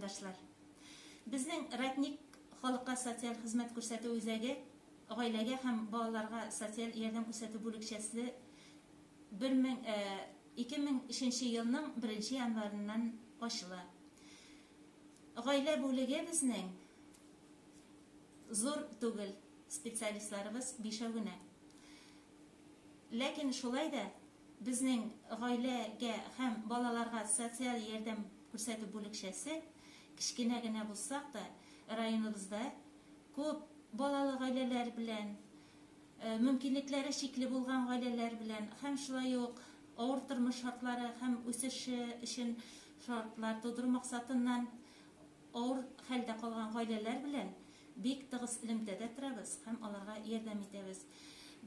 райондашлар. Безнең Ратник халыкка социаль хезмәт күрсәтү үзәге гаиләгә һәм балаларга социаль ярдәм күрсәтү бүлекчәсе 2003 елның 1 январыннан ачыла. Гаилә бүлеге безнең Зур түгел, специалистларыбыз бишәү генә. Ләкин шулай да безнең гаиләгә һәм балаларга социаль ярдәм күрсәтү бүлекчәсе, кечкенә генә булсак та, районыбызда күп балалы гаиләләр белән, мөмкинлекләре чикле булган гаиләләр белән һәм шулай ук авыр тормыш шартлары һәм үсеше өчен шартлар тудыру максатыннан, Авыр хәлдә калган гаиләләр белән бик тыгыз элемтәдә торабыз һәм аларга ярдәм итәбез.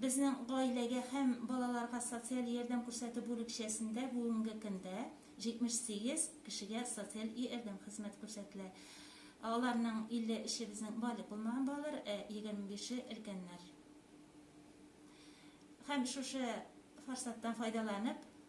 Безнең гаиләгә һәм балаларга социаль ярдәм күрсәтү бүлекчәсендә бүгенге көндә 78 кешегә социаль иәрдәм хезмәте күрсәтелә. Аларның 50 эше безнең балигъ булмаган балалар, ә 25-е өлкәннәр. Һәм шушы форсаттан файдаланып,